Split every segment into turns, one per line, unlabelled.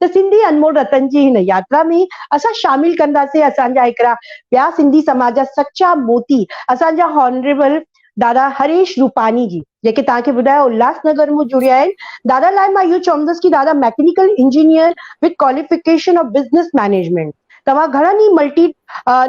ته سنڌي انمول رتن جي هن ياترا ۾ اسان شامل ڪنداسين اسان جا هڪڙا ٻيا سنڌي سماج جا سچا موتي اسان جا هانريبل دادا هريش روپاني جي جيڪي توهان کي ٻڌايو الهاس نگر مون جڙيا آهن دادا لاء مان اهو چوندس ڪي دادا mechanical engineer with qualification of business management توهان گهڻن ئي ملٽي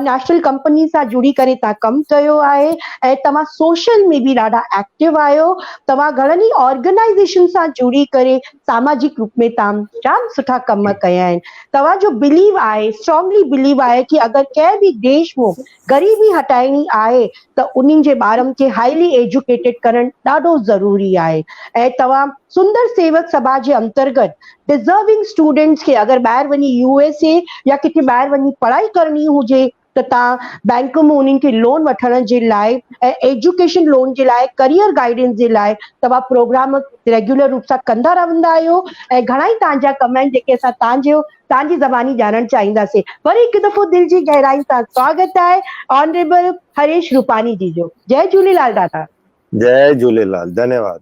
نيشنل ڪمپني سان جڙي ڪري تان ڪم ڪيو آهي ۽ توهان سوشل ۾ به ڏاڍا ايڪٽيو آهيو توهان گهڻن ئي آرگنائيزيشن سان جڙي ڪري ساماجڪ روپ ۾ تام جام سٺا ڪم ڪيا آهن توهان جو بليو آهي اسٽرانگلي بليو آهي ڪي اگر ڪنهن به ديش ۾ غريبي هٽائڻي آهي ته انهن جي ٻارن کي هائلي ايجوڪيٽيڊ ڪرڻ ڏاڍو ضروري آهي ۽ توهان سندر سيوڪ سڀا جي انترگت ڊزرونگ اسٽوڊنٽس کي اگر ٻاهر وڃي يو ايس اي يا ڪٿي ٻاهر وڃي پڙهائي ڪرڻي هجي ته توهان بئنڪ مان انهن کي لون وٺڻ جي لاء ۽ ايجوڪيشن لون جي لاء ڪريئر گائيڊنس جي لاء توهان پروگرام ريگيولر روپ سان ڪندا رهندا آهيو ۽ گهڻائي توهان جا ڪم آهن جيڪي اسان توهان جي تان جي زباني ڄاڻڻ چاهينداسين وري هڪ دفعو دل جي گهرائين سان سواگت آهي آنريبل هريش روپاني جي جو جئي جهوليلال دادا. جئي جهوليلال
ڌنيواد.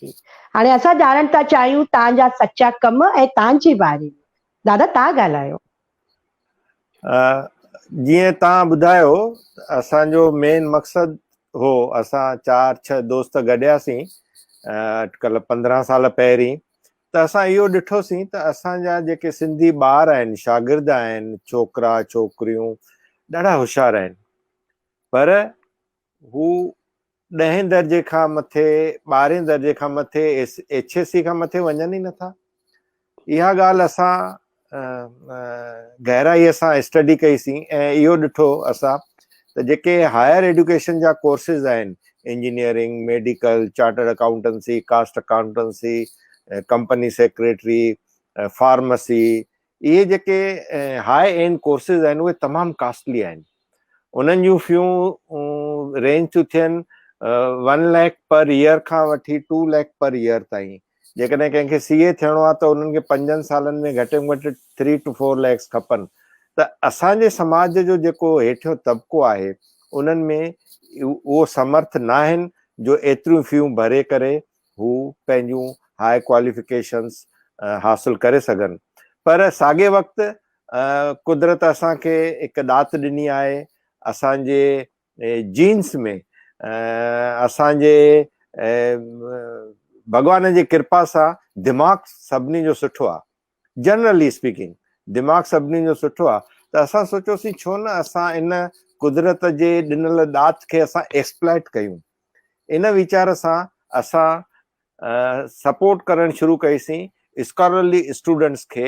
جي
هاڻي اسان ڄاڻڻ ٿا چاهيون تان جا سچا ڪم ۽ تان جي باري ۾ دادا تان ڳالهايو.
جيئن تان ٻڌايو اسان جو مين مقصد هو اسان چار ڇهه دوست گڏياسين اٽڪل پندرهن سال پهرين ته اسان اهو ڏٺوسين ته اسان جا جيڪي سنڌي ٻار آهن شاگرد آهن ڇوڪرا ڇوڪريون ڏاڍا هوشيار آهن پر هو ڏهين درجي کان مٿي ٻارهين درجي کان مٿي ايڇ ايس سي کان مٿي وڃن ئي نٿا اها ڳالهه اسان گهرائيء سان اسٽڊي ڪئي سين ۽ اهو ڏٺو اسان ته جيڪي هائر ايڊيوڪيشن جا ڪورسز آهن engineering, medical, chartered accountancy, cost accountancy, company secretary, pharmacy اهي جيڪي هاء اينڊ ڪورسز آهن اهي تمام ڪاسٽلي آهن. انهن جون فيون رينج ٿيون ٿين ون ليک پر ايئر کان وٺي ٽو ليک پر ايئر تائين جيڪڏهن ڪنهن کي سی اي ٿيڻو آهي ته انهن کي پنجن سالن ۾ گهٽ ۾ گهٽ ٿري ٽو فور ليکس کپن ته اسانجي سماج جو جيڪو هيٺيون طبقو آهي انهن ۾ اهو سمرٿ نه آهن جو ايتريون فيون ڀري ڪري هو پنهنجون هاء ڪواليفڪيشنس حاصل ڪري سگهن پر ساڳي وقت قدرت اسان کي هڪ ڏات ڏني آهي، اسان جي جينس ۾ اسان جي ڀڳوان جي ڪرپا سان دماغ سڀني جو سٺو آهي، جنرلي اسپيڪنگ دماغ سڀني جو سٺو آهي ته اسان سوچيوسين ڇو نه اسان ان قدرت جي ڏنل ڏات کي اسان ايڪسپلائيٽ ڪيون، ان ويچار سان اسان سپورٽ ڪرڻ شروع ڪئي سين اسڪالرلي اسٽوڊنٽس کي،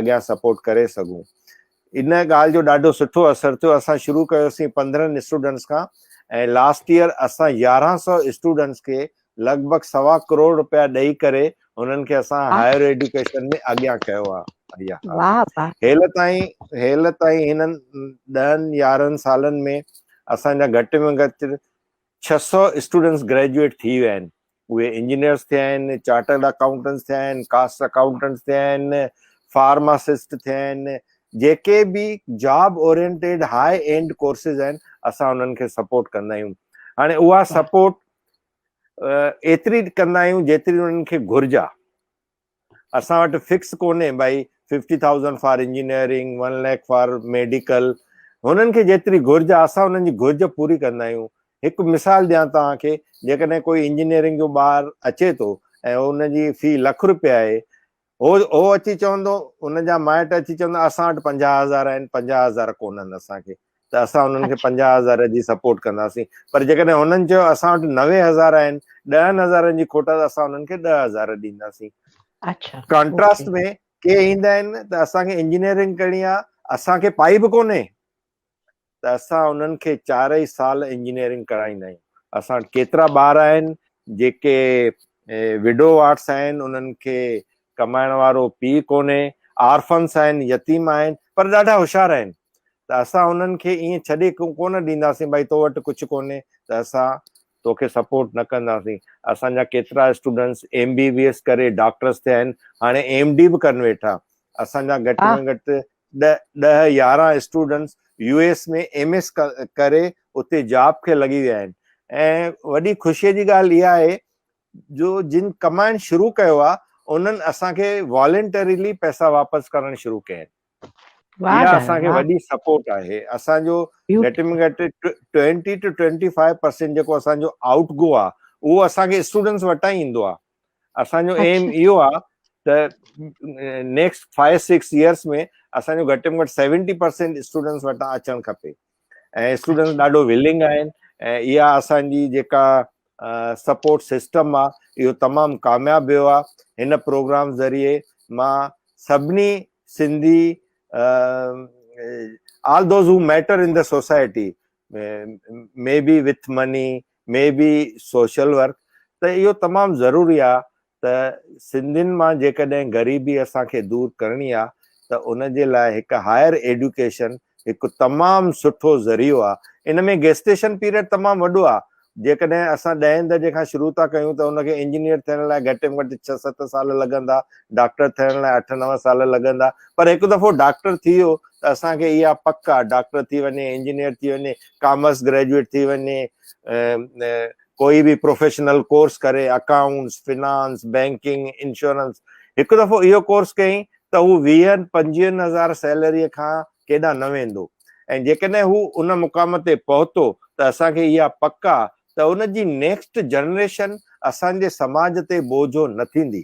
اڳيان سپورٽ ڪري سگهون ان ڳالهه جو ڏاڍو سٺو اثر ٿيو اسان شروع ڪيوسين پندرهن اسٽوڊنٽس کان ۽ لاسٽ ييئر اسان يارهن سئو اسٽوڊنٽس کي لڳ ڀڳ سوا ڪروڙ رپيا ڏئي ڪري انهن کي اسان هائر ايڊيوڪيشن ۾ اڳيان ڪيو آهي هيل تائين هيل تائين هنن ڏهن يارهن سالن ۾ اسان جا گهٽ ۾ گهٽ ڇهه سئو اسٽوڊنٽس گريجويٽ ٿي ويا آهن اهي انجنيئرز ٿيا آهن، چارٽرڊ اڪائونٽنٽس ٿيا آهن، ڪاسٽ اڪائونٽنٽس ٿيا آهن، فارماسسٽ ٿيا آهن، جيڪي به job oriented high end courses آهن اسان انهن کي سپورٽ ڪندا آهيون. هاڻي اها سپورٽ ايتري ڪندا آهيون جيتري انهن کي گهرج آهي. اسان وٽ فڪس ڪونهي ڀائي fifty thousand for engineering one lakh for medical هنن کي جيتري گهرج آهي اسان هنن جي گهرج پوري ڪندا آهيون هڪ مثال ڏيان توهان کي جيڪڏهن ڪوئي انجنيئرنگ جو ٻار اچي ٿو ۽ ان جي في لک رپيا آهي هو هو اچي چوندو ان جا مائٽ اچي چوندا اسان وٽ پنجاهه هزار آهن پنجاهه هزار ڪونهن اسان کي ته اسان انهن کي پنجاهه هزار جي سپورٽ ڪنداسين پر جيڪڏهن هنن چيو اسان وٽ نوي هزار آهن ڏهن هزارن جي کوٽ ته اسان انهن کي ڏهه هزار ڏينداسين ڪانٽراسٽ ۾ ڪي ايندا آهن ته اسان کي انجنيئرنگ ڪرڻي آهي اسان کي پائي به ڪونهي ته اسان انهن کي چارئي سال انجنيئرنگ ڪرائيندا آهيون اسان وٽ ڪيترا ٻار آهن جيڪي وڊو آرٽس آهن انهن کي ڪمائڻ وارو پيء ڪونهي آرفنس آهن يتيم آهن پر ڏاڍا هوشيار آهن ته اسان انهن کي ائين ڇڏي ڪونه ڏينداسين ڀائي تو وٽ ڪجهه ڪونهي ته اسان توکي سپورٽ نه ڪنداسين اسان جا ڪيترا students M B B S ڪري ڊاڪٽرس ٿيا آهن هاڻي ايم ڊي به ڪن ويٺا اسان جا گهٽ ۾ گهٽ ڏهه يارهن students U S ۾ M S ڪري اتي جاب کي لڳي ويا آهن ۽ وڏي خوشي جي ڳالهه اها آهي جو جن ڪمائڻ شروع ڪيو آهي انهن اسان کي والنٽريلي پئسا واپس ڪرڻ شروع ڪيا آهن اها اسان کي وڏي سپورٽ آهي اسان جو گهٽ ۾ گهٽ twenty two twenty five percent جيڪو اسان جو آئوٽ گو آهي اهو اسان کي اسٽوڊنٽس وٽان ئي ايندو آهي اسان جو ايم اهو آهي ته نيڪسٽ فائيو سڪس ايئرس ۾ اسان جو گهٽ ۾ گهٽ سيونٽي پرسينٽ اسٽوڊنٽس وٽان اچڻ کپي ۽ اسٽوڊنٽس ڏاڍو ولنگ آهن ۽ اها اسانجي جيڪا سپورٽ سسٽم آ اهو تمام ڪامياب ويو آ هن پروگرام ذريعي مان سڀني Sindhi all those who matter in the society may be with money may be social work ته اهو تمام ضروري آ ته سنڌين مان جيڪڏهن غريبي اسان کي دور ڪرڻي آ ته ان جي لاء هڪ هائر ايڊيوڪيشن هڪ تمام سٺو ذريعو آ ان ۾ گيسٽيشن پيريڊ تمام وڏو آ جيڪڏهن اسان ڏهين درجي کان شروع ٿا ڪيون ته ان کي انجنيئر ٿيڻ لاء گهٽ ۾ گهٽ ڇهه ست سال لڳندا ڊاڪٽر ٿيڻ لاء اٺ نو سال لڳندا پر هڪ دفعو ڊاڪٽر ٿي ويو ته اسان کي اها پڪ آ ڊاڪٽر ٿي وڃي انجنيئر ٿي وڃي ڪامرس گريجوئيٽ ٿي وڃي ڪوئي به پروفيشنل ڪورس ڪري اڪائونٽس، فنانس، بينڪنگ، انشورنس هڪ دفعو اهو ڪورس ڪيائين ته هو ويهن پنجويهن هزار سيلريء کان ڪيڏانهن نه ويندو ۽ جيڪڏهن هو ان مقام تي پهتو ته اسان کي اها پڪ آ ته ان جي نيڪسٽ جنريشن اسان جي سماج تي بوجهو نه ٿيندي.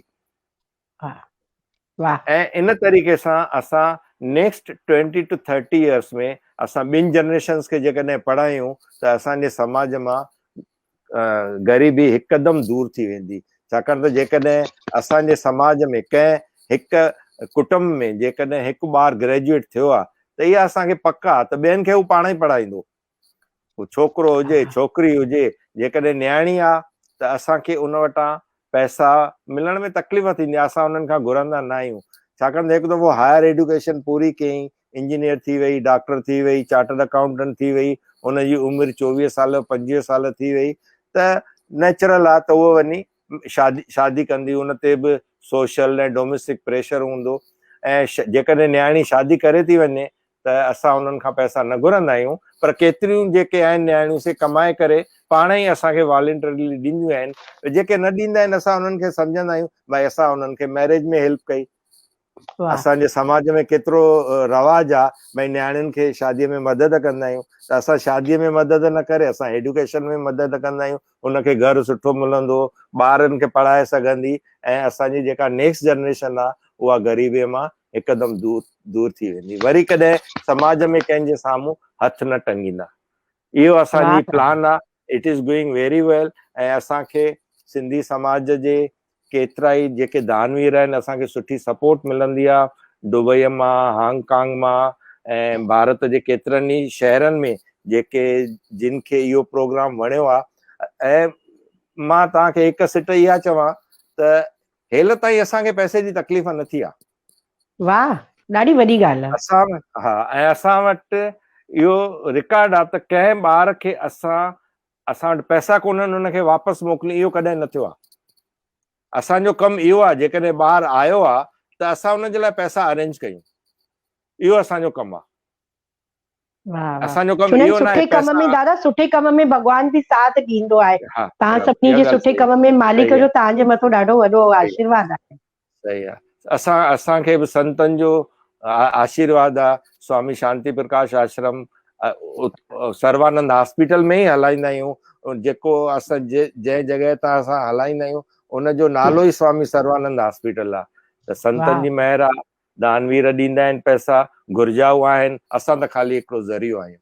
۽ ان طريقي سان اسان next twenty two thirty years ۾ اسان ٻين جنريشنس کي جيڪڏهن پڙهايون ته اسان جي سماج مان غريبي هڪدم دور ٿي ويندي ڇاڪاڻ ته جيڪڏهن اسان جي سماج ۾ ڪنهن هڪ ڪٽنب ۾ جيڪڏهن هڪ ٻار گريجويٽ ٿيو آهي ته اها اسان کي پڪ آهي ته ٻين کي هو پاڻ ئي پڙهائيندو هو ڇوڪرو هجي ڇوڪري هجي جيڪڏهن نياڻي آ ته اسان کي ان وٽان پئسا ملڻ ۾ تڪليف ٿيندي آ اسان انهن کان گهرندا نه آهيون ڇاڪاڻ ته هڪ دفعو هائر ايڊوڪيشن پوري ڪيئين انجنيئر ٿي وئي ڊاڪٽر ٿي وئي چارٽرڊ اڪائونٽنٽ ٿي وئي ان جي عمر چوويهه سال پنجويهه سال ٿي وئي ته نيچرل آ ته هو وڃي شادي شادي ڪندي ان تي به سوشل ۽ ڊوميسٽڪ پريشر هوندو ۽ جيڪڏهن نياڻي شادي ڪري ٿي وڃي ته اسان انهن کان پئسا نه گهرندا آهيون پر ڪيتريون جيڪي آهن نياڻيون سي ڪمائي ڪري پاڻ ئي اسان کي والنٽرلي ڏينديون آهن ته جيڪي نه ڏيندا آهن اسان انهن کي سمجهندا آهيون ڀائي اسان انهن کي ميريج ۾ هيلپ ڪئي اسان جي سماج ۾ ڪيترو رواج آهي ڀائي نياڻين کي شادي ۾ مدد ڪندا آهيون ته اسان شادي ۾ مدد نه ڪري اسان ايڊوڪيشن ۾ مدد ڪندا آهيون ان کي گهر سٺو ملندو، ٻارن کي پڙهائي سگهندي ۽ اسان جي جيڪا نيڪسٽ جنريشن آ اها غريبي مان هڪدم دور دور ٿي ويندي. وري ڪڏهن سماج ۾ ڪنهن جي سامهون هٿ نه ٽنگيندا. اهو اسان جي پلان آ. It is going very well ۽ اسان کي سنڌي سماج جي ڪيترائي جيڪي دانوير آهن اسان کي سٺي سپورٽ ملندي آ دبئي مان هانگ ڪانگ مان ۽ ڀارت جي ڪيترن ئي شهرن ۾ جيڪي جن کي اهو پروگرام وڻيو آ ۽ مان توهان کي هڪ سٽ اها چوان ته هيل تائين اسان کي پئسي جي تڪليف نه ٿي آ واهه
ڏاڍي وڏي ڳالهه آ اسان ها ۽ اسان
وٽ اهو رڪارڊ آ ته ڪنهن ٻار کي اسان اسان وٽ پئسا ڪونهن ان کي واپس موڪلين اهو ڪڏهن نه ٿيو آهي اسان جو ڪم اهو آهي جيڪڏهن ٻار آيو آهي ته اسان ان جي لاء پئسا ارينج ڪيون اهو اسان جو ڪم آهي اسان جو ڪم اهو ناهي سٺي ڪم ۾ دادا سٺي
ڪم ۾ ڀڳوان به ساٿ ڏيندو آهي تان سڀني جي سٺي ڪم ۾ مالڪ جو تان جي مٿو ڏاڍو وڏو آشيرواد آهي صحيح آ
اسان اسان کي به سنتن جو آشيرواد آ سوامي شانتي پرڪاش آشرم سروانند هاسپيٽل ۾ ئي هلائيندا آهيون جيڪو اسان جنهن جڳهه تان اسان هلائيندا آهيون ان جو نالو ئي سوامي سروانند هاسپيٽل آ ته سنتن جي مهر آ دانوير ڏيندا آهن پئسا گهرجائو آهن اسان ته خالي هڪڙو ذريعو آهيون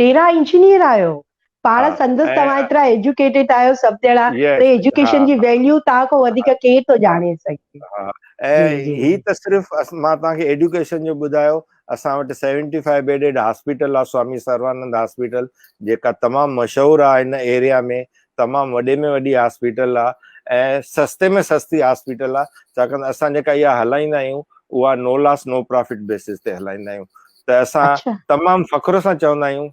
پيرا انجنيئر
آهيو
پاڻ
سندس توهان
ايترا
ايجوڪيٽيڊ آهيو سڀ ڄڻا پر ايجوڪيشن جي
ويليو
توهان
کان
وڌيڪ ڪير ٿو ڄاڻي سگهي ۽
هي
ته صرف
مان
توهان
کي ايجوڪيشن جو ٻڌايو اسان وٽ سيونٽي فائيو بيڊيڊ هاسپيٽل آهي سوامي سروانند هاسپيٽل جيڪا تمام مشهور آهي هن ايريا ۾ تمام وڏي ۾ وڏي هاسپيٽل آهي ۽ سستي ۾ سستي هاسپيٽل آهي ڇاڪاڻ ته اسان جيڪا اها هلائيندا آهيون اها no loss no profit basis تي هلائيندا آهيون ته اسان تمام فخر
سان
چوندا آهيون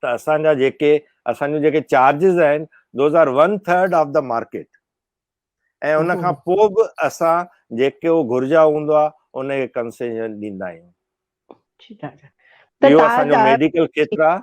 ته اسان جا جيڪي اسان جون جيڪي چارجز آهن those are one third of the market ۽ ان کان پوء به اسان جيڪو گهرجا هوندو آهي ان کي ڪنسيشن ڏيندا آهيون
اهو اسان جو ميڊيڪل
کيتر
آهي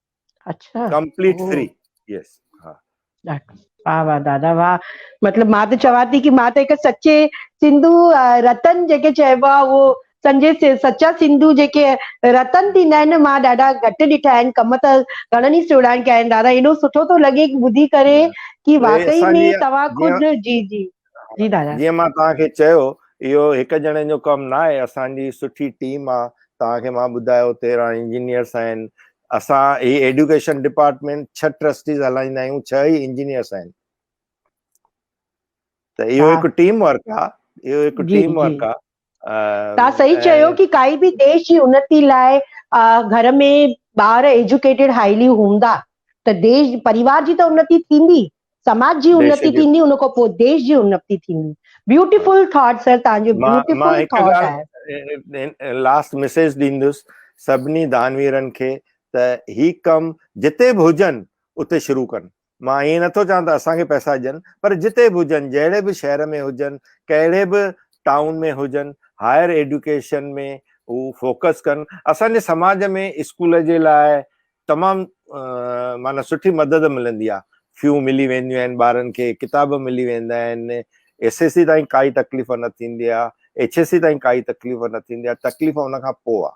اڇا
ڪمپليٽ اوهو فري
يس ها واھ
واھ دادا واھ مطلب مان ته چوان ٿي ڪي مان ته هڪ سچي سنڌو رتن جيڪي چئبو آ اهو سنجي سچا سنڌو جيڪي رتن ٿيندا آهن مان ڏاڍا گهٽ ڏٺا آهن ڪم ته گهڻن ئي سهڻا ڪيا آهن دادا ايڏو سٺو ٿو لڳي ٻڌي ڪري ڪي واقعي ۾
توهان
خود
جي
جي جي دادا جيئن مان توهان کي چيو
اهو هڪ ڄڻي جو ڪم نه آهي اسان جي سٺي ٽيم آ توهان کي مان ٻڌايو 13 انجنيئرس آهن اسان هي ايڊوڪيشن ڊپارٽمنٽ ڇهه ٽرسٽيز هلائيندا آهيون ڇهه ئي انجنيئرس آهن ته اهو هڪ ٽيم ورڪ آ اهو هڪ ٽيم ورڪ آ تان
صحيح چيو ڪي ڪائي به ديش جي انتي لاء گهر ۾ ٻار ايجوڪيٽيڊ هائلي هوندا ته ديش پريوار جي ته انتي ٿيندي سماج جي انتي ٿيندي ان کان پوء ديش جي انتي ٿيندي بيوٽيفل ٿاٽ سر تان جو بيوٽيفل ٿاٽ
آهي لاسٽ ميسج ڏيندس سڀني دانويرن کي ته هي ڪم جتي به هجن اتي شروع ڪن مان ائين نٿو چوان ته اسان کي پئسا ڏين پر جتي به هجن جهڙي به شهر ۾ هجن ڪهڙي به ٽائون ۾ هجن هائر ايڊيوڪيشن ۾ هو فوڪس ڪن اسان جي سماج ۾ اسڪول جي لاء تمام معنی سٺي مدد ملندي آهي فيون ملي وينديون آهن ٻارن کي ڪتاب ملي ويندا آهن ايس ايس سي تائين ڪائي تڪليف نه ٿيندي آهي ايڇ ايس سي تائين ڪائي تڪليف نه ٿيندي آهي تڪليف ان کان پوء آهي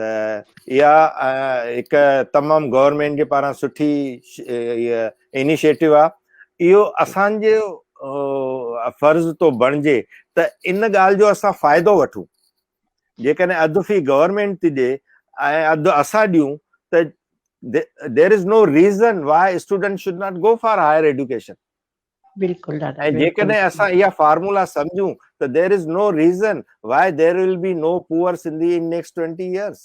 ته اها هڪ تمام گورنمينٽ جي پاران سٺي انيشيٽو آهي اهو اسان جو فرض ٿو بڻجي ته ان ڳالهه جو اسان فائدو وٺون جيڪڏهن اڌ في گورنمينٽ ٿي ڏي ۽ اڌ اسان ڏيون ته there is no reason why student should not go for higher education بلڪل
دادا ۽ جيڪڏهن اسان
اها
فارمولا
سمجهون ته there is no reason why there will be no poor Sindhi in next twenty years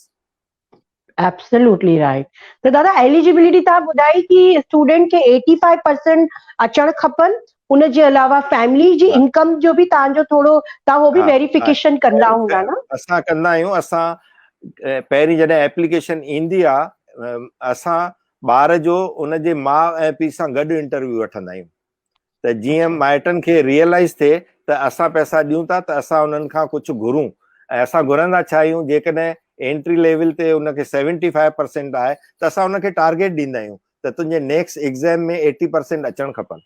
absolutely right ته دادا ايليجبلٽي تان ٻڌائي ڪي اسٽوڊنٽ کي 85% اچڻ کپن ان جي علاوه فيملي جي انڪم جو به تان جو ٿورو تا هو به ويريفيڪيشن ڪندا هوندا نه اسان ڪندا آهيون
اسان پهرين جڏهن اپليڪيشن ايندي آ اسان ٻار جو ان جي ماء ۽ پيء سان گڏ انٽرويو وٺندا آهيون ته جيئن مائٽن کي
ريئلائز
ٿئي ته اسان پئسا ڏيون ٿا ته اسان انهن کان ڪجهه گهرون ۽ اسان گهرندا ڇا آهيون جيڪڏهن انٽري ليول تي ان کي سيونٽي فائيو پرسينٽ آهي ته اسان ان کي ٽارگيٽ ڏيندا آهيون ته تنهنجي نيڪسٽ ايگزام ۾ ايٽي پرسينٽ اچڻ کپن.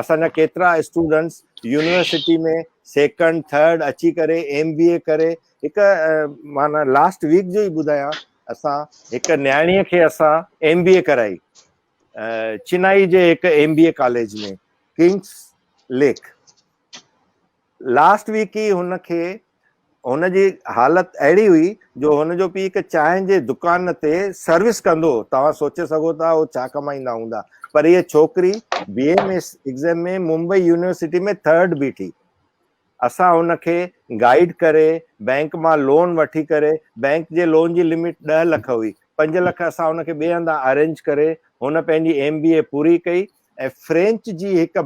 اسان جا ڪيترا اسٽوڊنٽس يونيورسٽي ۾ سيڪنڊ ٿرڊ اچي ڪري ايم بي اي ڪري هڪ معنيٰ لاسٽ ويڪ جو ئي ٻڌايان اسان هڪ نياڻيء کي اسان ايم بي اي ڪرائي چنائي جي هڪ ايم بي اي ڪاليج ۾ ڪنگس ليڪ لاسٽ ويڪ ئي هن کي هن جي حالت اهڙي هئي جو هن جو پيء هڪ چانهه جي دڪان تي سروس ڪندو هو. توهان سوچي سگهو ٿا هو ڇا ڪمائيندا هوندا. پر هيء ڇوڪري B M S exam ۾ Mumbai university ۾ third بيٺي. اسان هن کي گائيڊ ڪري بئنڪ مان لون وٺي ڪري بئنڪ جي لون جي لمٽ ڏهه لک هئي. پنج لک اسان هن کي ٻئي هنڌان ارينج ڪري هن پنهنجي ايم بي اي پوري ڪئي ۽ ۽ فرينچ جي هڪ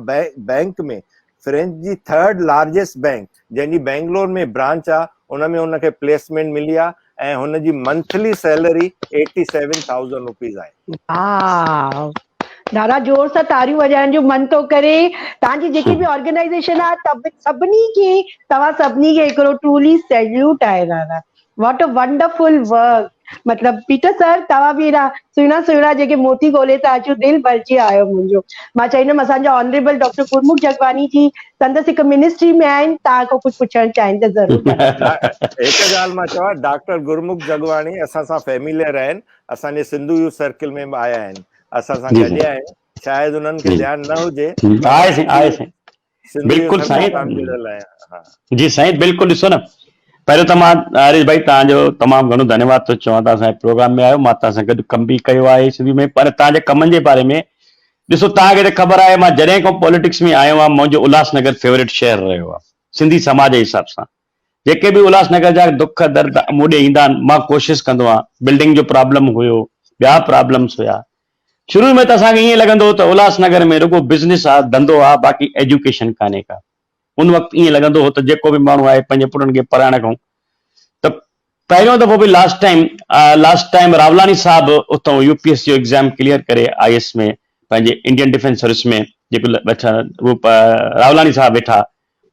بئنڪ ۾ فرينچ جي ٿرڊ لارجسٽ بئنڪ جنهن جي بئنگلور ۾ برانچ آ ان ۾ هن کي پليسمينٽ ملي آ ۽ هن جي monthly salary eighty seven thousand rupees آهي.
واء دادا زور سان تاريون وڄائڻ جو من ٿو ڪري توهان جي جيڪي به آرگنائيزيشن آ سڀني کي توهان سڀني کي هڪڙو ٽرولي سيليوٽ آهي دادا. واٽ ا ونڊرفل ورڪ مطلب پيٽر سر توهان به اهڙا سهڻا سهڻا جيڪي موتي ڳولي ٿا اچو دل ڀرجي آيو منهنجو مان چئيندم اسان جا آنريبل ڊاڪٽر گرمک جگواني جي سندس هڪ منسٽري ۾ آهن تان کان ڪجهه پڇڻ چاهين ته ضرور هڪ
ڳالهه مان چوان ڊاڪٽر گرمک جگواني اسان سان فيميلر آهن اسان جي سنڌو يوٿ سرڪل ۾ به آيا آهن اسان سان گڏيا آهن شايد انهن کي ڌيان نه هجي
بلڪل سائين جي سائين بلڪل ڏسو نه پهريون ته مان حارث ڀائي تان جو تمام گهڻو ڌنيواد ٿو چوان تان سائين پروگرام ۾ آيو مان تان سان گڏ ڪم به ڪيو آهي سنڌي ۾ پر تان جي ڪمن جي باري ۾ ڏسو تان کي ته خبر آهي مان جڏهن کان پوليٽڪس ۾ آيو آهيان منهنجو الهاس نگر فيوريٽ شهر رهيو آهي سنڌي سماج جي حساب سان جيڪي به الهاس نگر جا دک درد مون ڏي ايندا آهن مان ڪوشش ڪندو آهيان بلڊنگ جو پرابلم هيو ٻيا پرابلمس هيا شروع ۾ ته اسان کي ائين لڳندو هو ته الهاس نگر ۾ رڳو بزنس آ، ڌنڌو آ، باقي ايجوڪيشن ڪانهي ڪا. ان وقت ائين لڳندو هو ته جيڪو به ماڻهو آهي پنهنجي پٽن کي پرائڻ کان ته پهريون دفعو به last time last time Rawlani صاحب اتان يو پي ايس جو ايگزام ڪليئر ڪري آء ايس ۾ پنهنجي انڊين ڊفينس سروس ۾ جيڪو ويٺا راولاڻي صاحب ويٺا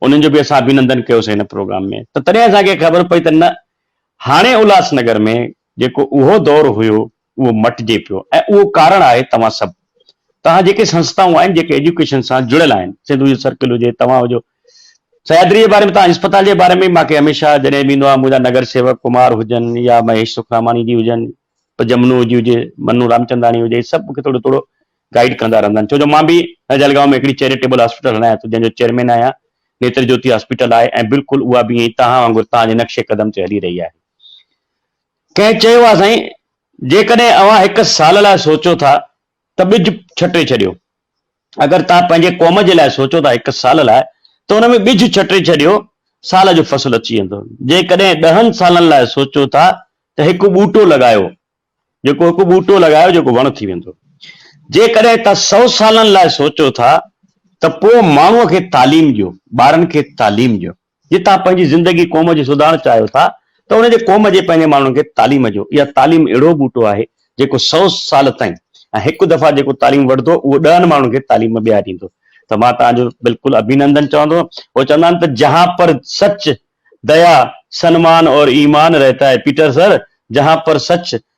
انهن جو به اسان اڀينندن ڪيوسين هن پروگرام ۾ ته تڏهن اسان کي خبر پئي ته نه هاڻي الهاس نگر ۾ جيڪو اهو دور هيو اهو مٽجي پيو ۽ اهو ڪارڻ آهي توهان سڀ توهان جيڪي سنستائون آهن جيڪي ايجوڪيشن سان جڙيل آهن سنڌو يوٿ سرڪل هجي توهان هجو سهيادري جي باري ۾ توهان اسپتال جي باري ۾ ماکي هميشه جڏهن به ايندو آهيان منهنجا نگر سيوڪ ڪمار هجن يا مهيش سکراماڻي جي هجن پ جمنو جي هجي منو رامچنداڻي هجي سڀ مونکي ٿورو ٿورو گائيڊ ڪندا رهندا آهن ڇو جو مان به جلگاون ۾ هڪڙي چيريٽيبل هاسپيٽل هلايان ٿو جنهن جو چيئرمين آهيان نيتر جوتي هاسپيٽل آهي ۽ بلڪل اها به ائين توهان وانگر توهان جي نقش قدم تي هلي رهي آهي ڪنهن چيو آهي سائين، جيڪڏهن اوهان هڪ سال لاء سوچو ٿا ته ٻج ڇٽي ڇڏيو. اگر توهان پنهنجي قوم جي لاء سوچو ٿا هڪ سال لاء ته ان ۾ ٻج ڇٽي ڇڏيو، سال جو فصل اچي ويندو. جيڪڏهن ڏهن سالن لاء سوچو ٿا ته هڪ ٻوٽو لڳايو، جيڪو هڪ ٻوٽو لڳايو جيڪو وڻ ٿي ويندو. جيڪڏهن توهان سؤ سالن لاء سوچو ٿا ته پوء ماڻهوء کي تعليم ڏيو، ٻارن کي تعليم ڏيو. جي توهان پنهنجي زندگي قوم جي سڌارڻ چاهيو ٿا ته ان جي قوم جي پنهنجي ماڻهن کي تعليم ڏيو اها تعليم اهڙو ٻوٽو آهي جيڪو سئو سال تائين ۽ هڪ دفعا جيڪو تعليم وٺدو اهو ڏهن ماڻهن کي تعليم ٻيا ڏيندو ته مان توهان جو بلڪل ابينندن چوندو هو چوندا آهن ته جهان پر سچ ديا سنمان اور ايمان رهتا هي پيٽر سر جهان پر سچ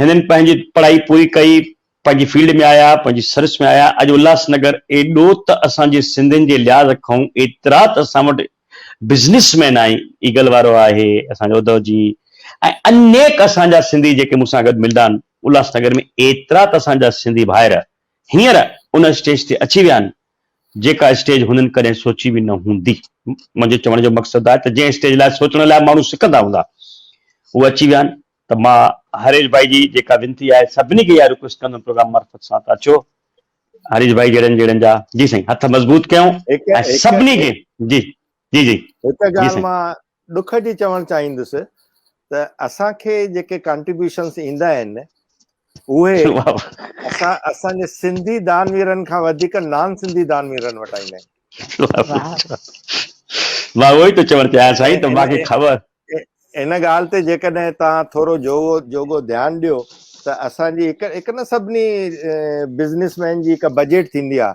هنن پنهنجي پڙهائي پوري ڪئي، پنهنجي فيلڊ ۾ آيا، پنهنجي سروس ۾ آيا، اڄ الهاس نگر ايڏو ته اسان جي سنڌين جي لحاظ کانئون ايترا ته اسان وٽ بزنس مين آهن، ايگل وارو آهي، اسان جو ادو جي ۽ انيڪ اسان جا سنڌي جيڪي مون سان گڏ ملندا آهن، الهاس نگر ۾ ايترا ته اسان جا سنڌي ڀائر هينئر ان اسٽيج تي اچي ويا آهن، جيڪا اسٽيج هنن ڪڏهن سوچي به نه هوندي. منهنجو چوڻ جو مقصد آهي ته جنهن اسٽيج لاء سوچڻ لاء ماڻهو سڪندا هوندا اهو اچي ويا آهن ته مان هريش ڀائي جي جيڪا وينتي آهي سڀني کي اها رڪويسٽ ڪندم پروگرام معرفت سان ته اچو هريش ڀائي جهڙن جهڙن جا جي سائين هٿ مضبوط ڪيون ۽ سڀني کي جي جي جي هڪ ڳالهه مان
ڏک جي چوڻ چاهيندس ته اسان کي جيڪي ڪانٽريبيوشنس ايندا آهن اهي اسان اسان جي سنڌي دانويرن کان وڌيڪ نان سنڌي دانويرن وٽ ايندا آهن
مان اهو ئي ٿو چوڻ چاهيان سائين ته
مان
کي خبر
ان ڳالهه تي جيڪڏهن تان ٿورو جوڳو جوڳو ڌيان ڏيو ته اسان جي هڪ هڪ نه سڀني بزنس مين جي هڪ بجيٽ ٿيندي آهي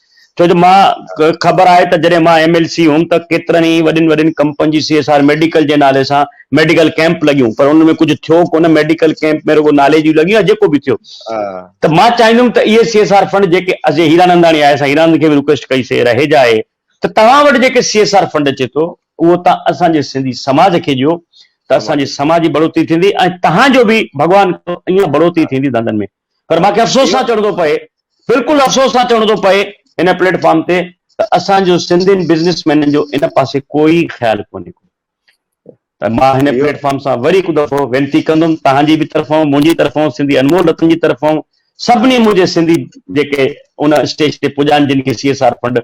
ڇو جو مان کي خبر آهي ته جڏهن مان ايم ايل سي هيم ته ڪيترن ئي وڏين وڏين ڪمپنين جي سي ايس آر ميڊيڪل جي نالي سان ميڊيڪل ڪيمپ لڳيون پر ان ۾ ڪجهه ٿيو ڪونه ميڊيڪل ڪيمپ ۾ رڳو نالي جون لڳيون يا جيڪو به ٿيو ته مان چاهيندم ته اهي سي ايس آر فنڊ جيڪي جي هيراننداڻي آهي اسان هيرانند کي به رڪويسٽ ڪئي سي رهيجا اهي ته توهان وٽ جيڪي سي ايس آر فنڊ اچي ٿو اهو توهان اسان جي سنڌي سماج کي ڏيو ته اسان جي سماج جي بڙوتي ٿيندي ۽ توهان جو به ڀڳوان ڪرو ايئن بڙوتي ٿيندي ڌنڌن ۾ پر مون کي افسوس سان چوڻو ٿو پئي بلڪل افسوس سان چوڻو ٿو پئي ان پليٽ فارم تي ته اسان جو سنڌين بزنس مينن جو ان پاسي ڪوئي خيال ڪونهي ڪو ته مان هن پليٽ فارم سان وري هڪ دفعو وينتي ڪندم تهان جي به طرفون منهنجي طرفون سنڌي انمول رتن جي طرفون سڀني منهنجي سنڌي جيڪي ان اسٽيج تي پڄا آهن جن کي سي ايس آر فنڊ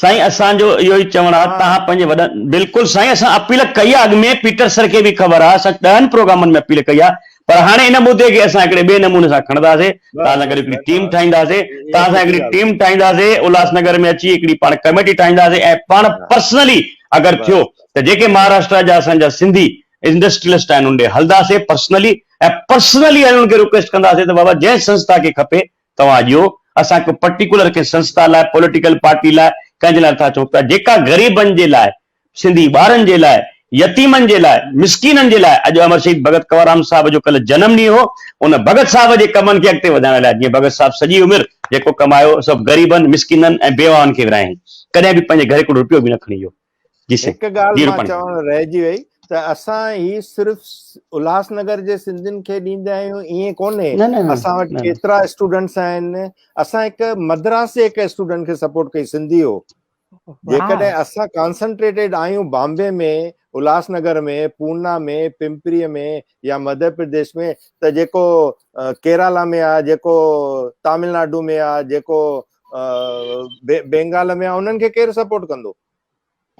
سائين اسان جو
اهو ئي چوڻ آ توهان پنهنجي وڏن بلڪل سائين اسان اپيل ڪئي آ اڳ ۾ پيٽر سر کي به خبر آ اسان ڏهن پروگرامن ۾ اپيل ڪئي آ پر هاڻي ان مدي کي اسان هڪڙي ٻئي نموني سان کڻنداسي توهان سان گڏ هڪڙي ٽيم ٺاهينداسي توهان سان هڪڙي ٽيم ٺاهينداسي الهاس نگر ۾ اچي هڪڙي پاڻ ڪميٽي ٺاهينداسي ۽ پاڻ پرسنلي اگر ٿيو ته جيڪي مهاراشٽرا جا اسان جا سنڌي انڊسٽريلسٽ آهن ان ڏي هلنداسي پرسنلي ۽ پرسنلي انهن کي رڪويسٽ ڪنداسي ته بابا جنهن سنسٿا کي کپي توهان ڏيو، اسان ڪو پرٽيڪولر ڪنهن سنسٿا لاء، پوليٽيڪل پارٽي لاء، ڪنهن جي لاء نٿا چئون پيا، جيڪا غريبن جي لاء، سنڌي ٻارن جي لاء، يتيمن جي لاء، مسڪينن جي لاء، اڄ امر شهيد ڀڳت ڪنوررام صاحب جو ڪلهه جنم ڏينهن هو، ان ڀڳت صاحب جي ڪمن کي اڳتي وڌائڻ لاء، جيئن ڀڳت صاحب سڄي عمر جيڪو ڪمايو، سڀ غريبن، مسڪينن ۽ بيواهن کي ورهايائين، ڪڏهن به پنهنجي گهري ڪوڙ روپيو به نه کڻي ويو. جي سائين هڪ ڳالهه
مان چوڻ رهجي وئي ته اسان هي صرف الهاس نگر جي سنڌين کي ڏيندا آهيون ائين ڪونهي اسان وٽ ڪيترا اسٽوڊنٽس آهن اسان هڪ مدراسي هڪ اسٽوڊنٽ کي سپورٽ ڪئي سنڌي هو جيڪڏهن اسان ڪانسنٽريٽيڊ آهيون بامبي ۾ الهاس نگر ۾ پونا ۾ پمپري ۾ يا مڌيه پرديش ۾ ته جيڪو ڪيرالا ۾ آهي جيڪو تامل ناڊو ۾ آهي جيڪو بينگال ۾ انهن کي ڪير سپورٽ ڪندو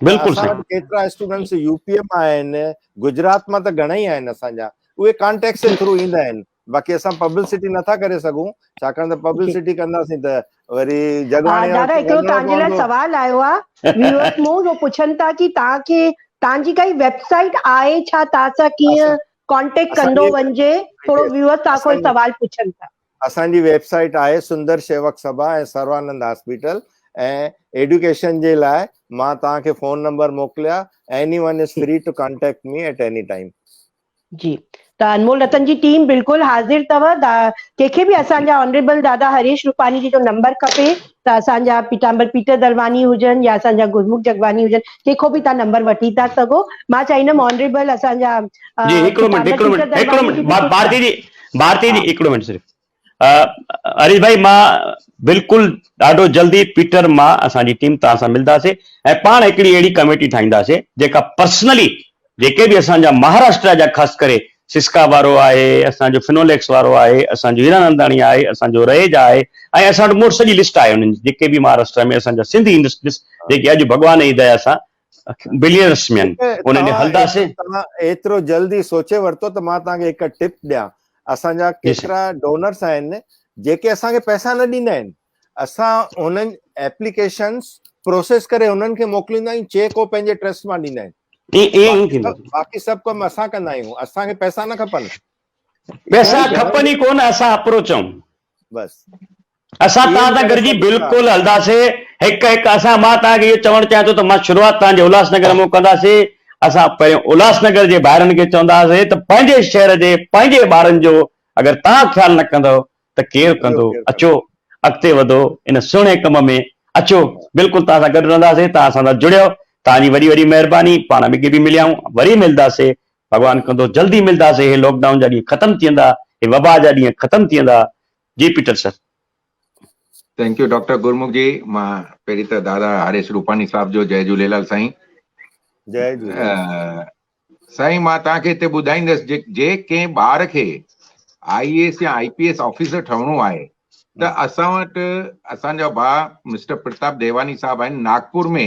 بلڪل
سائين ڪيترا اسٽوڊنٽس
يو پي مان آهن گجرات مان ته گهڻا ئي آهن اسان جا اهي ڪانٽيڪٽس جي ٿرو ايندا آهن باقي اسان پبلسٽي نٿا ڪري سگھون ڇاڪاڻ ته پبلسٽي ڪنداسين ته وري جگاڻي دادا هڪڙو تان جي لاء
سوال آيو آ ويورز مون جو پڇن ٿا ڪي تان کي تان جي ڪائي ويب سائيٽ آهي ڇا تان سان ڪيئن ڪانٽيڪٽ ڪندو ونجي ٿورو ويورز تان کي سوال پڇن ٿا اسان جي ويب سائيٽ
آهي سندر شيوڪ سڀا ۽ سروانند هاسپيٽل ۽ ايڊيوڪيشن جي لاء مان توهان کي فون نمبر موڪليا any one is free to contact me at any time. جي
ته انمول رتن جي ٽيم بلڪل حاضر تھو دا ڪنھن کي به اسان جا آنريبل دادا ھريش روپاني جي جو نمبر کپي ته اسان جا پيٽامبر پيٽر درواني ھجن يا اسان جا گرمک جگواني ھجن ڪنھن کون به تھان نمبر وٺي ٿا سگھو مان چاھيندم آنريبل اسان جا جي ھڪڙو منٽ ھڪڙو منٽ ھڪڙو منٽ
بھارتي جي ڀارتي جي هڪڙو منٽ صرف اريش ڀائي مان بلڪل ڏاڍو جلدي پيٽر مان اسان جي ٽيم توهان سان ملنداسي ۽ پاڻ هڪڙي اهڙي ڪميٽي ٺاهينداسي جيڪا پرسنلي جيڪي به اسان جا مهاراشٽرا جا خاص ڪري سسڪا وارو آهي اسان جو فنوليڪس وارو آهي اسان جو هيراننداڻي آهي اسان جو رهيجا آهي ۽ اسان وٽ مور سڄي لسٽ آهي انهن جي جيڪي به مهاراشٽرا ۾ اسان جا سنڌي انڊسٽريز جيڪي اڄ ڀڳوان جي ديا سان بلين رسمين انهن ڏي هلنداسين. توهان ايترو
جلد ئي سوچي ورتو ته مان توهان کي هڪ ٽپ ڏيان. اسان جا ڪيترا ڊونرس آهن جيڪي اسان کي پئسا نه ڏيندا آهن. اسان هنن ايپليڪيشنس پروسيس ڪري هنن کي موڪليندا آهيون چيڪ هو پنهنجي ٽرسٽ مان ڏيندا آهن. باقي سڀ ڪم اسان ڪندا آهيون. اسان کي پئسا نه کپن. پئسا
کپن ئي ڪونه اسان اپروچ آهيون.
بس اسان
توهان سان گڏجي بلڪل هلنداسي هڪ هڪ اسان مان توهان کي اهو چوڻ چاهيان ٿو ته مان شروعات توهان جي الهاس نگر مون ڪنداسي اسان پهريون الهاس نگر جي ڀائرن کي چونداسي ته پنهنجي شهر جي پنهنجي ٻارن جو اگر توهان خيال نه ڪندو ته ڪير ڪندو اچو اڳتي وڌو ان سهڻي ڪم ۾ اچو بلڪل توهان سان گڏ رهنداسي توهان اسان سان جڙيو توهان جي وڏي وڏي مهرباني پاڻ اڳي به مليائون وري ملداسي ڀڳوان ڪندو جلدي ملداسين هي لاڪ ڊائون جا ڏينهن ختم ٿي ويندا هي وبا جا ڏينهن ختم ٿي ويندا جي Peter sir.
Thank you doctor Gurmukh ji مان پهرين ته دادا هريش روپاني صاحب جو جئي جهوليلال سائين جئي جهوليلال
سائين
مان توهان کي هتي ٻڌائيندس جي جي ڪنهن ٻار کي آئي اي ايس يا آئي پي ايس آفيسر ٺهڻو آهي ته اسان وٽ اسان جا ڀاء مسٽر پرتاب ديواني صاحب آهن ناگپور ۾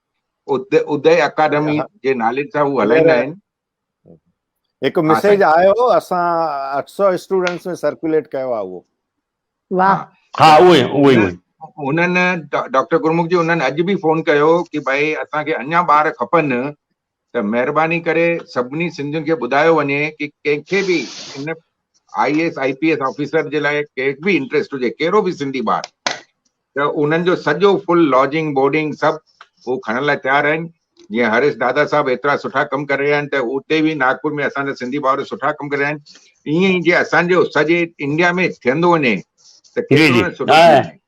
ادي اڪاڊمي جي نالي سان هو هلائيندا آهن
هڪ ميسيج آيو اسان 800 اسٽوڊنٽس ۾ سرڪيوليٽ ڪيو آ اهو واه
ها اهو اهو
اهو انهن
ڊاڪٽر گرمک جي انهن اڄ به فون ڪيو ڪي ڀائي اسان کي اڃا ٻار کپن ته مهرباني ڪري سڀني سنڌين کي ٻڌايو وڃي ڪي ڪنهن کي به ان I A S I P S officer جي لاء ڪي به انٽريسٽ هجي ڪهڙو به سنڌي ٻار ته انهن جو سڄو فل لاجنگ بورڊنگ سڀ هو کڻڻ لاء تيار آهن جيئن هريش دادا صاحب ايترا سٺا ڪم ڪري رهيا آهن ته اتي به ناگپور ۾ اسان جا سنڌي ڀائر سٺا ڪم ڪري رهيا آهن ائين ئي جي اسان جو سڄي انڊيا ۾ ٿيندو وڃي ته ڪيترو نه سٺو ٿيندو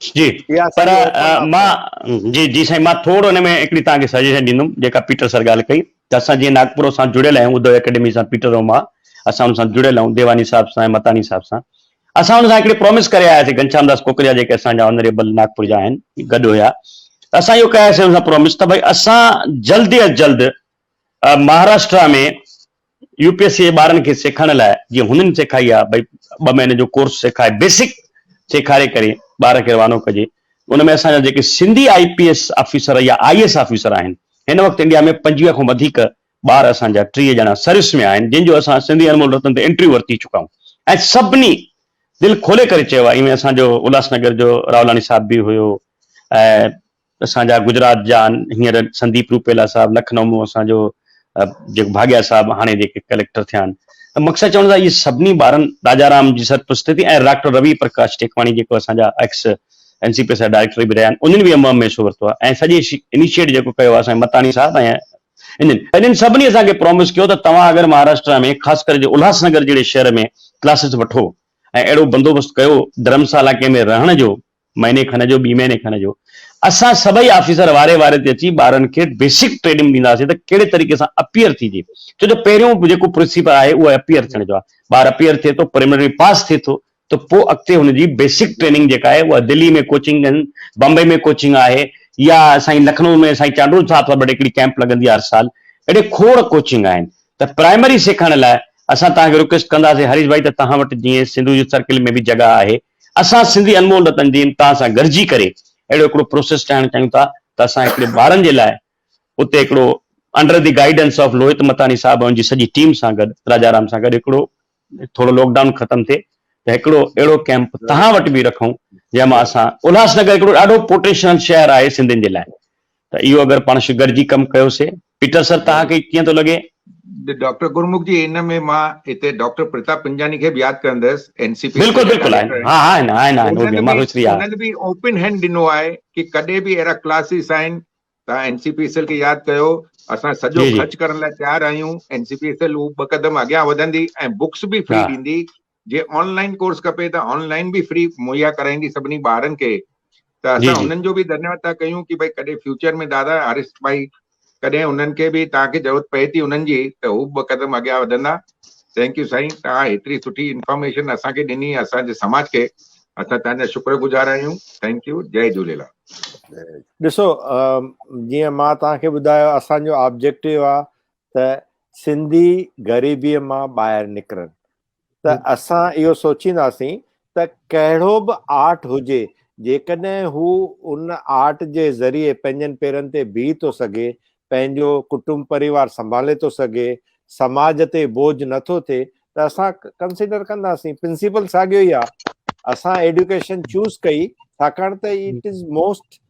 جي پر مان جي جي سائين مان ٿورو ان ۾ هڪڙي توهان کي سجيشن ڏيندم جيڪا پيٽر سر ڳالهه ڪئي ته اسان جي ناگپور سان جڙيل آهيون ادو اڪيڊمي سان پيٽر روما اسان ان سان جڙيل آهيون ديواني صاحب سان متاني صاحب سان اسان ان سان هڪڙي پرومس ڪري آياسي گنشام داس ڪوڪريا جيڪي اسان جا آنريبل ناگپور جا آهن گڏ هيا اسان اهو ڪياسي ان سان پرومس ته ڀائی اسان جلد از جلد Maharashtra ۾ U P S C جي ٻارن کي سيکارڻ لاء جيئن هنن سيکائي آ ڀئي ٻه مهينن جو ڪورس سيکائي بيسڪ سيکاري ڪري ٻار کي روانو ڪجي ان ۾ اسان جا جيڪي Sindhi I P S officer يا آئي ايس آفيسر آهن هن وقت انڊيا ۾ پنجويهه کان وڌيڪ ٻار اسان جا ٽيهه ڄڻا سروس ۾ آهن جن جو اسان سنڌي انمول رتن تي انٽرويو ورتي چڪا آهيون ۽ سڀني دل کولي ڪري چيو آهي ايوين اسان جو الهاس نگر جو راولاڻي صاحب به هيو ۽ اسان جا گجرات جا هينئر سنديپ روپيلا صاحب لکنؤ ۾ اسان جو جيڪو ڀاڳيا صاحب هاڻي جيڪي ڪليڪٽر ٿيا آهن ته مقصد چوڻ جا اهي سڀني ٻارن راجا رام جي سرپرستي تي ۽ ڊاڪٽر روي پرڪاش ٽيڪواڻي جيڪو اسان جا ايڪس اين سي پي سا ڊائريڪٽر به رهيا آهن انهن به اهم حصو ورتو آهي ۽ سڄي انيشيٽ جيڪو ڪيو آهي سائين متاڻي صاحب ۽ انهن انهن سڀني اسان کي پرومس ڪيو ته توهان اگر مهاراشٽرا ۾ خاص ڪري جو الهاس نگر جهڙي شهر ۾ ڪلاسز وٺو ۽ اهڙو بندوبست ڪيو ڌرمسالا ڪنهن ۾ رهڻ جو مهيني کن جو ٻي مهيني کن جو اسان سڀئي آفيسر واري واري تي اچي ٻارن کي بيسڪ ٽريننگ ڏينداسين ته ڪهڙي طريقي سان اپيئر ٿيجي ڇو جو پهريون جيڪو پرنسيپل آهي اهو اپيئر ٿيڻ جو آهي ٻار اپيئر ٿئي ٿو پريمنري پاس ٿئي ٿو ته پوء اڳتي هن جي بيسڪ ٽريننگ جيڪا آهي اها دلي ۾ ڪوچنگ ڏين بمبئي ۾ ڪوچنگ آهي يا سائين لکنو ۾ سائين چانڊول صاحب سان وٽ هڪڙي ڪيمپ لڳندي آهي هر سال اهڙي کوڙ ڪوچنگ آهن ته پرائمري سيکائڻ لاء اسان توهان کي رڪويسٽ ڪنداسين هريش ڀائي ته توهان وٽ جيئن سنڌو يوٿ سرڪل ۾ به جڳهه آهي اسان سنڌي انمول رتن جي امتحان سان گڏجي ڪري اهڙو هڪڙو پروسيس ٺاهڻ چاهيون ٿا ته اسان هڪڙي ٻارن جي لاء اتي هڪڙو under the guidance of Lohit Matani صاحب ۽ ان جي سڄي ٽيم سان گڏ راجارام سان گڏ هڪڙو ٿورو لاڪ ڊائون ختم ٿئي ته هڪڙو اهڙو ڪيمپ تهان وٽ به رکون جنهن مان اسان الهاس نگر هڪڙو ڏاڍو پوٽينشل شهر آهي سنڌين جي لاء ته اهو اگر پاڻ گڏجي ڪم ڪيوسي پيٽر سر توهان کي ڪيئن ٿو لڳي؟ ڊاڪٽر گرمک
جي ان ۾ مان هتي ڊاڪٽر پرتاب پنجاڻي کي به ياد ڪرندس اين سي پي بلڪل بلڪل آهن ها
ها آهن آهن آهن هو به ماروئي سري آهن
انهن به اوپن هينڊ ڏنو آهي ڪي ڪڏهن به اهڙا ڪلاسز آهن توهان N C P S L کي ياد ڪيو اسان سڄو خرچ ڪرڻ لاء تيار آهيون N C P S L هو ٻه قدم اڳيان وڌندي ۽ بڪس به فري ڏيندي جي آن لائين ڪورس کپي ته آن لائين به فري مهيا ڪرائيندي سڀني ٻارن کي ته اسان انهن جو به ڌنيواد ٿا ڪيون ڪي ڀائي ڪڏهن فيوچر ۾ دادا آريسٽ ڀائي ڪڏهن انهن کي به توهان کي ضرورت پئي ٿي انهن جي ته هو به ٻه قدم اڳيان وڌندا ٿينڪ يو سائين توهان هيتري سٺي انفارميشن اسان کي ڏني اسان جي سماج کي اسان توهان جا شڪر گذار آهيون ٿينڪ يو جي جهوليلال ڏسو
جيئن مان توهان کي ٻڌايو اسان جو آبجيڪٽو آهي ته سنڌي غريبيء مان ٻاهر نڪرن ته اسان اهو سوچينداسين ته ڪهڙو به آرٽ هجي جيڪڏهن هو ان آرٽ جي ذريعي پنهنجن پيرن تي بيهي ٿو سگهي، پنهنجو ڪٽنب پريوار سنڀالي ٿو سگهي، سماج تي بوجهه نه ٿو ٿئي ته اسان ڪنسيڊر ڪنداسين. پرنسيپل ساڳيو ئي آهي. اسان ايڊيوڪيشن چوز ڪئي ڇاڪاڻ ته اٽ از موسٽ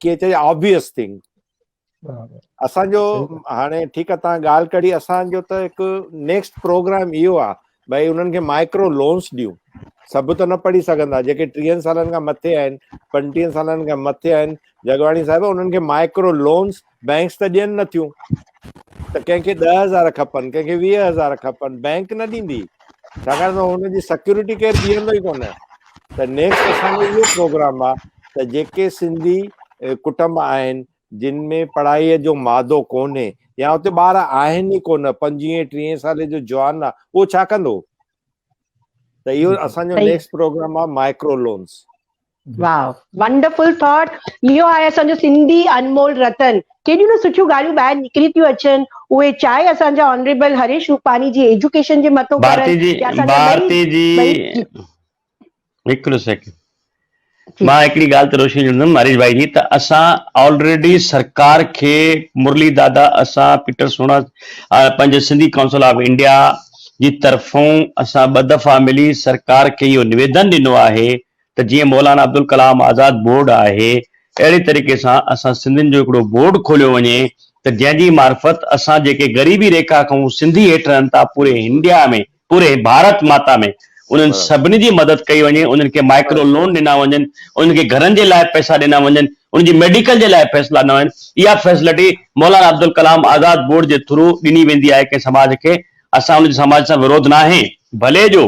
ڪيئن چئجي آبويس ٿنگ. اسان جو هاڻي ٺيڪ آ تان ڳالهه ڪري اسان جو ته هڪ نيڪسٽ پروگرام اهو آ ڀائی انهن کي مائڪرو لونز ڏيون سڀ ته نه پڙهي سگهندا جيڪي ٽيهن سالن کان مٿي آهن پنجٽيهن سالن کان مٿي آهن جگواڻي صاحب انهن کي مائڪرو لونز بئنڪس ته ڏين نه ٿيون ته ڪنهن کي ڏهه هزار کپن ڪنهن کي ويهه هزار کپن بئنڪ نه ڏيندي ڇاڪاڻ ته هن جي سيڪيورٽي ڪير بيهندو ئي ڪونه ته نيڪسٽ اسان جو اهو پروگرام آ ته جيڪي سنڌي ڪٽنب آهن جن ۾ پڙهائي جو مادو ڪونهي يا اتي ٻار آهن ئي ڪونه پنجويهه ٽيهه سالي جو جوان آ اهو ڇا ڪندو ته اهو اسان جو نيڪسٽ پروگرام آ micro loans
wow wonderful thought اهو آهي اسان جو سنڌي انمول رتن ڪيڏيون نه سٺيون ڳالهيون ٻاهر نڪري ٿيون اچن اهي چاهي اسان جا آنريبل هريش روپاني جي ايجوڪيشن جي مٿو ڀارتي جي ڀارتي جي
هڪڙو سيڪنڊ مان هڪڙي ڳالهه ته روشني ڏيندم هريش ڀائي جي ته اسان آلريڊي سرڪار کي مرلي دادا اسان پيٽر سونا پنهنجي سنڌي ڪائونسل آف انڊيا جي طرفون اسان ٻه دفعا ملي سرڪار کي اهو نويدن ڏنو آهي ته جيئن مولانا عبدالڪلام آزاد بورڊ آهي اهڙي طريقي سان اسان سنڌين جو هڪڙو بورڊ کوليو وڃي ته جنهن جي معرفت اسان جيڪي غريبي ريکا کان سنڌي هيٺ رهن ٿا پوري هنڊيا ۾ پوري ڀارت ماتا ۾ انهن سڀني جي مدد ڪئي وڃي انهن کي مائڪرو لون ڏنا وڃن انهن کي گهرن جي لاء پئسا ڏنا وڃن انهن جي ميڊيڪل جي لاء فيصلا ڏنا وڃن اها فيسلٽي مولانا عبدالڪلام آزاد بورڊ جي ٿرو ڏني ويندي آهي ڪنهن سماج کي اسان ان جي سماج سان ورود ناهي ڀلي جو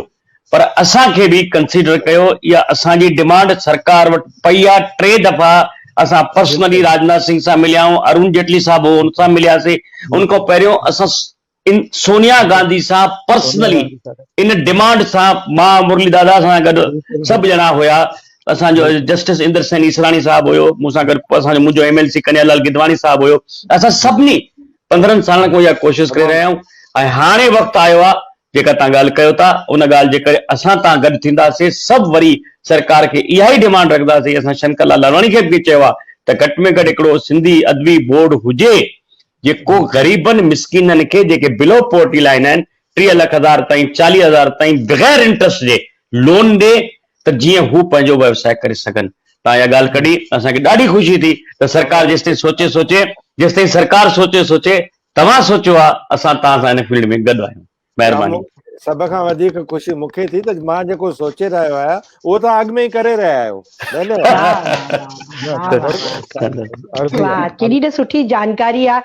پر اسان کي به ڪنسيڊر ڪيو اها اسان جي ڊمانڊ سرڪار وٽ پئي آ ٽي دفعا اسان پرسنلي راجناٿ سنگهه سان مليا آهيون ارون جيٽلي صاحب هو ان سان ملياسي ان کان پهريون اسان ان سونيا گانڌي سان پرسنلي ان ڊمانڊ سان مان مرلي دادا سان گڏ سڀ ڄڻا هيا اسان جو جسٽس اندر سين اسراڻي صاحب هيو مون سان گڏ اسان جو منهنجو M L C Kanya Lal Gidwani صاحب هيو اسان سڀني پندرهن سالن کان اها ڪوشش ڪري رهيا آهيون ۽ هاڻي وقت آيو آ جيڪا تان ڳالهه ڪيو ٿا ان ڳالهه جي ڪري اسان تان گڏ ٿيندا سي سڀ وري سرڪار کي اها ئي ڊيمانڊ رکندا سي اسان شنڪر لال لالواڻي کي به چيو آ ته گهٽ ۾ گهٽ هڪڙو سنڌي ادبي بورڊ هجي جيڪو غريبن مسڪينن کي جيڪي بلو پورٽي لائين آهن ٽيهه لک هزار تائين چاليهه هزار تائين بغير انٽرسٽ جي لون ڏي ته جيئن هو پنهنجو ويوساء ڪري سگهن تان اها ڳالهه ڪڍي اسان کي ڏاڍي خوشي ٿي ته سرڪار جيستائين سوچي سوچي جيستائين سرڪار سوچي سوچي توهان سوچيو آ اسان توهان سان هن فيلڊ ۾ گڏ آهيون مهرباني. سڀ کان وڌيڪ
خوشي مون کي ٿي ته مان جيڪو سوچي رهيو آهيان اهو توهان اڳ ۾ ئي ڪري رهيا آهيو ڌنيواد. واھ واھ واھ واھ
واھ ڪيڏي ته سٺي جانڪاري آ.